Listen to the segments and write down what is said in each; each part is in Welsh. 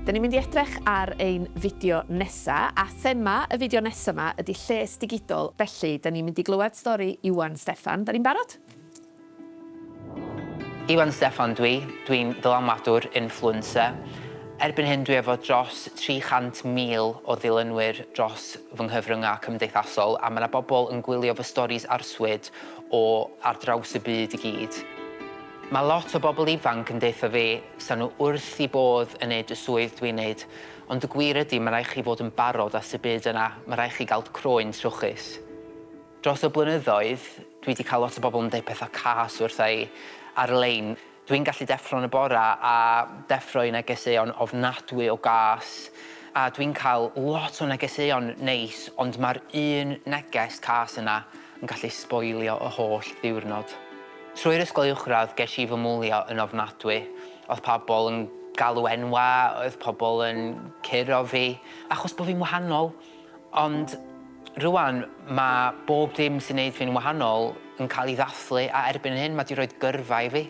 Da ni'n mynd i edrych ar ein fideo nesa, a thema y fideo nesa 'ma ydi lles digidol, felly da ni'n mynd i glywed stori Iwan Steffan. Da ni'n barod? Iwan Steffan dw i, dw i'n ddylanwadwr, influencer. Erbyn hyn dwi efo dros 300,000 o ddilynwyr dros fy nghyfryngau cymdeithasol a mae 'na bobl yn gwylio fy storis arswyd o ar draws y byd i gyd. Mae lot o bobl ifanc yn deutha fi 'sa nhw wrth i bodd yn neud y swydd dwi'n neud, ond y gwir ydi ma' raid chi fod yn barod at y byd yna, ma' raid chi gael croen trwchus. Dros y blynyddoedd, dwi 'di cael lot o bobl yn deud pethau cas wrtha i ar-lein. Dwi'n gallu deffro yn y bore a deffro i negeseuon ofnadwy o gas, a dwi'n cael lot o negeseuon neis, ond mae'r un neges cas yna yn gallu sboilio y holl ddiwrnod. Trwy'r ysgol uwchradd ges i fy mwlio yn ofnadwy. Oedd pobl yn galw enwau, oedd pobl yn curo fi, achos bod fi'n wahanol. Ond rŵan mae bob dim sy'n neud fi'n wahanol yn cael ei ddathlu a erbyn hyn mae 'di rhoid gyrfa i fi.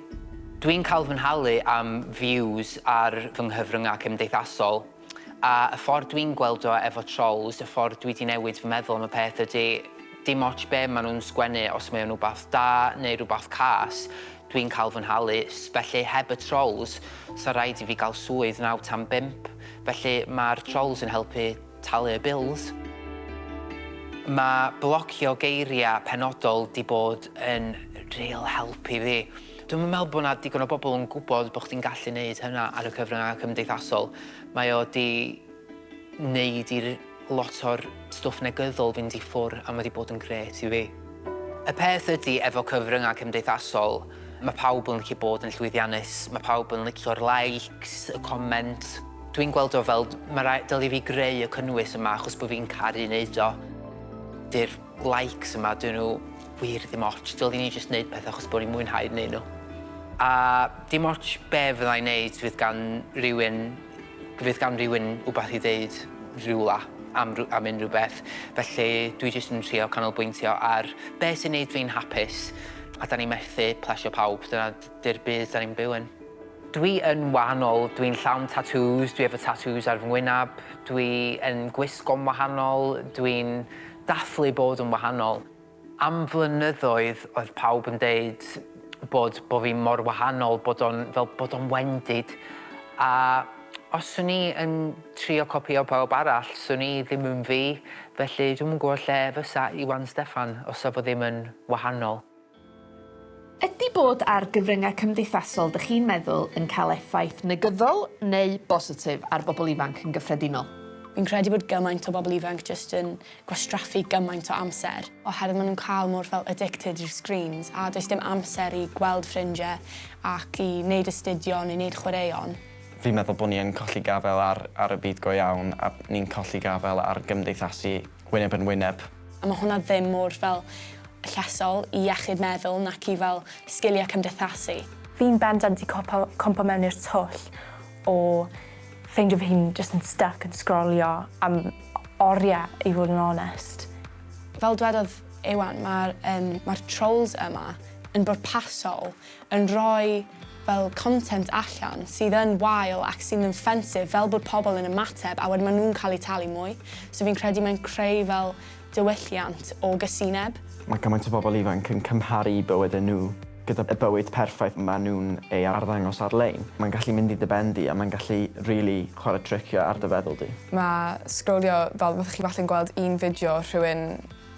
Dwi'n cael fy nhalu am views ar fy nghyfryngau cymdeithasol a y ffordd dwi'n gweld o efo trolls, y ffordd dwi 'di newid fy meddwl am y peth ydy dim ots be maen nhw'n sgwennu os mae o'n wbath da neu rhywbeth cas dwi'n cael fy nhalu felly heb y trolls 'sa raid i fi gael swydd naw tan bump felly mae'r trolls yn helpu Talu y bills. Mae blocio geiriau penodol 'di bod yn real help i fi. Dwi'm yn meddwl bod 'na digon o bobl yn gwybod bod chdi'n gallu neud hynna ar y cyfryngau cymdeithasol. Mae o 'di neud i lot o'r stwff negyddol fynd i ffwr' a mae 'di bod yn grêt i fi. Y peth ydi efo cyfryngau cymdeithasol, mae pawb yn licio bod yn llwyddiannus, mae pawb yn licio'r likes, y comments. Dwi'n gweld o fel, ma rai- dylai fi greu y cynnwys yma achos bod fi'n caru neud o. Dy'r likes yma, dyn nhw wir ddim ots, dylwn i jyst neud pethau achos bod i'n mwynhau neud nhw. A dim ots be fydda i'n neud, fydd gan rywun, fydd gan rywun wbath i ddeud rywle am rw- am unrhyw beth, felly dwi jyst yn trio canolbwyntio ar be sy'n neud fi'n hapus, a 'dan ni'n methu plesio pawb, dyna Dy'r byd dan ni'n byw yn. Dwi yn wahanol, dwi'n llawn tatŵs, dwi efo tatŵs ar fy ngwynab, dwi yn gwisgo'n wahanol, dwi'n dathlu bod yn wahanol. Am flynyddoedd oedd pawb yn deud bod bo' fi mor wahanol bod o'n fel bod o'n wendid a os swn i yn trio copïo pawb arall swn i ddim yn fi felly dwi'm yn gwybod lle fysa Iwan Steffan os sa fo ddim yn wahanol. Ydy bod ar gyfryngau cymdeithasol dych chi'n meddwl yn cael effaith negyddol neu bositif ar bobl ifanc yn gyffredinol? Fi'n credu bod gymaint o bobl ifanc jyst yn gwastraffu gymaint o amser, oherwydd maen nhw'n cael mor fel addicted i'r screens, a does dim amser i gweld ffrindiau ac i wneud astudio neu wneud chwaraeon. Fi'n meddwl bod ni yn colli gafael ar ar y byd go iawn a ni'n colli gafael ar gymdeithasu. wyneb yn wyneb. A mae hwnna ddim mor fel llesol i iechyd meddwl nac i fel sgiliau cymdeithasu. Fi'n bendant 'di copo cwmpo mewn i'r twll o ffeindio fy hun jyst yn styc yn sgrolio am orie i fod yn onest. Fel dwedodd Iwan ma'r yym ma'r trolls yma yn bwrpasol. yn rhoi fel content allan sydd yn wael ac sydd yn ffensif fel bod pobl yn ymateb a wedyn maen nhw'n cael eu talu mwy. So fi'n credu mae'n creu fel diwylliant o gasineb. Mae cymaint o bobl ifanc yn cymharu bywydau nhw gyda bywyd perffaith maen nhw'n ei arddangos ar-lein. Mae'n gallu mynd i dy ben di a mae'n gallu rili chwarae tricio ar dy feddwl di. Mae sgrolio fel fyddech chi falle'n gweld un fideo rhywun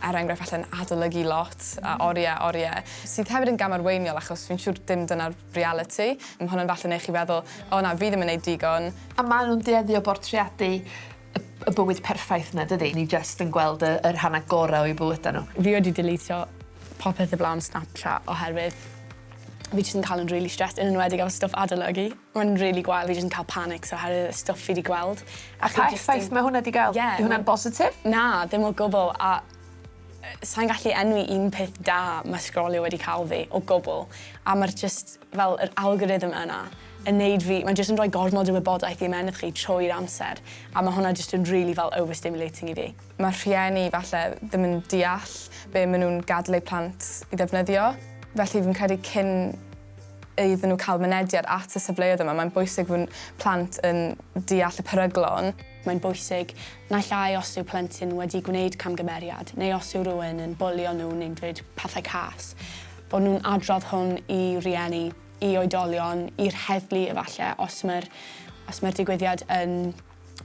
er enghraifft falle yn adolygu lot a oriau a oriau, sydd hefyd yn gam arweiniol achos fi'n siŵr dim dyna'r realiti. Mae hwn yn falle neu chi feddwl, o na, fi ddim yn neud digon. A maen nhw'n dueddu o bortreadu y bywyd perffaith yna, dydi? Ni jyst yn gweld y, y rhannau gorau o'u bywydau nhw. Fi wedi deletio popeth o flaen Snapchat oherwydd fi jyst yn cael yn rili stressed, yn enwedig efo stwff adolygu. Mae'n rili gwael, fi jyst yn ca'l panics oherwydd y stwff fi 'di gweld. A pa effaith ma' hwnna 'di ga'l? Ie. Yw hwnna'n bositif? Na, ddim o gwbwl a yy sai'n gallu enwi un peth da ma' sgrolio wedi ca'l fi, o gwbwl. A ma'r jyst fel yr algorithm yna yn neud fi... Ma'n jyst yn rhoi gormod o wybodaeth i ymennydd chi trwy'r amser a ma' hwnna jyst yn rili fel overstimulating i fi. Ma' rhieni falle ddim yn deall be' ma' nw'n gadel eu plant i ddefnyddio felly fi'n credu cyn iddyn nhw cael mynediad at y safleoedd yma. Mae'n bwysig fod plant yn deall y peryglon. Mae'n bwysig, naill ai os yw plentyn wedi gwneud camgymeriad neu os yw rhywun yn bwlio nhw neu'n dweud pethau cas, bod nhw'n adrodd hwn i rieni, i oedolion, i'r heddlu efallai os mae'r os mae'r digwyddiad yn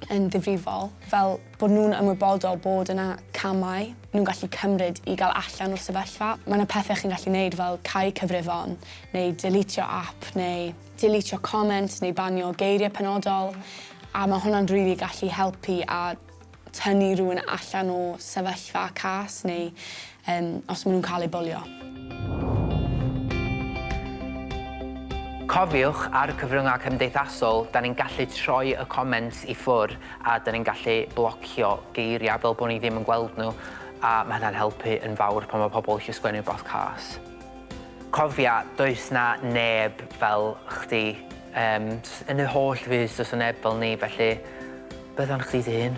yn ddifrifol, fel bod nhw'n ymwybodol bod yna camau nhw'n gallu cymryd i gael allan o'r sefyllfa. Mae yna pethau chi'n gallu neud fel cau cyfrifon, neu delîtio ap, neu delîtio comment, neu banio geiriau penodol, a mae hwnna'n rili gallu helpu a tynnu rhywun allan o sefyllfa cas neu Yym, os maen nhw'n cael eu bwlio. Cofiwch, ar y cyfryngau cymdeithasol, da ni'n gallu troi y comments i ffwr a da ni'n gallu blocio geiriau fel bod ni ddim yn gweld nhw a ma' hynna'n helpu yn fawr pan ma' pobl eisiau sgwennu rhywbeth cas. Cofia, does 'na neb fel chdi. Yym, yn y holl fyd, does 'na neb fel ni, felly beth am chdi dy hun?